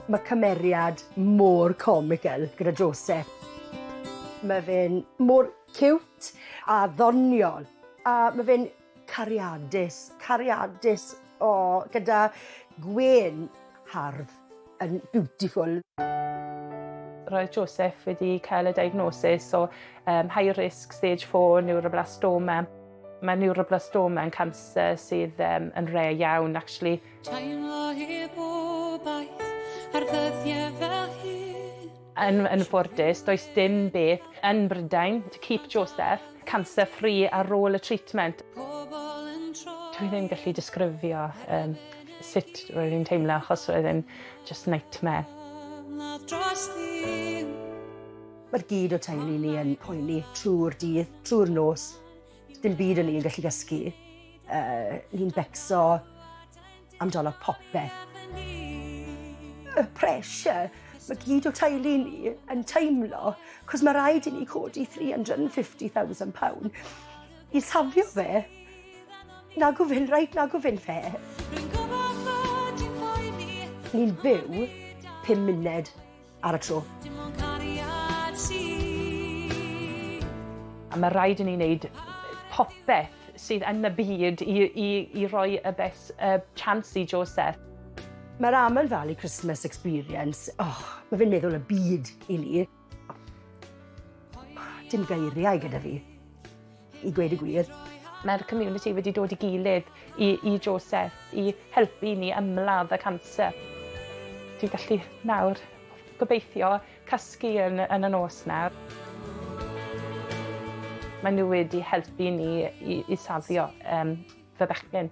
Mae cymeriad mor comical gyda Joseph. Mae fe'n mor ciwt a ddoniol a mae fe'n cariadus, cariadus, o, gyda gwên hardd. yn beautiful. Roedd Joseph wedi cael y diagnosis o um, high risk stage 4 neuroblastoma. Mae neuroblastoma yn canser sydd um, yn rei iawn, actually. Teimlo hi bobaith ar ddyddiau fel hyn. Yn yn ffodus, does dim beth yn Brydain to keep Joseph cancer free ar ôl y treatment. Dwi ddim gallu disgrifio um, sut roedd hi'n teimlo achos roedd e'n just nightmare. Mae'r gyd o teulu ni yn poeni trwy'r dydd, trwy'r nos. Dim byd o'n i'n gallu dysgu. Uh, ni'n becso amdano popeth. Y pressure mae gyd o teulu ni yn teimlo, cos mae rhaid i ni codi £350,000 i safio fe. Na gofyn rhaid, na gofyn fe. Ni'n byw pum munud ar y tro. Dim ond cariad sydd. A mae rhaid i ni wneud popeth sydd yn y byd i, i, i roi y best uh, chance i Joseph. Mae'r Amel Valley Christmas Experience, oh, mae fe'n meddwl y byd i ni. Dim geiriau gyda fi. i gweud y gwir. Mae'r community wedi dod i gilydd i, i Joseph i helpu i ni ymladd y canser. Dwi'n gallu nawr gobeithio casgu yn, yn y nos nawr. Mae nhw wedi helpu ni i, i safio um, fy bechgyn.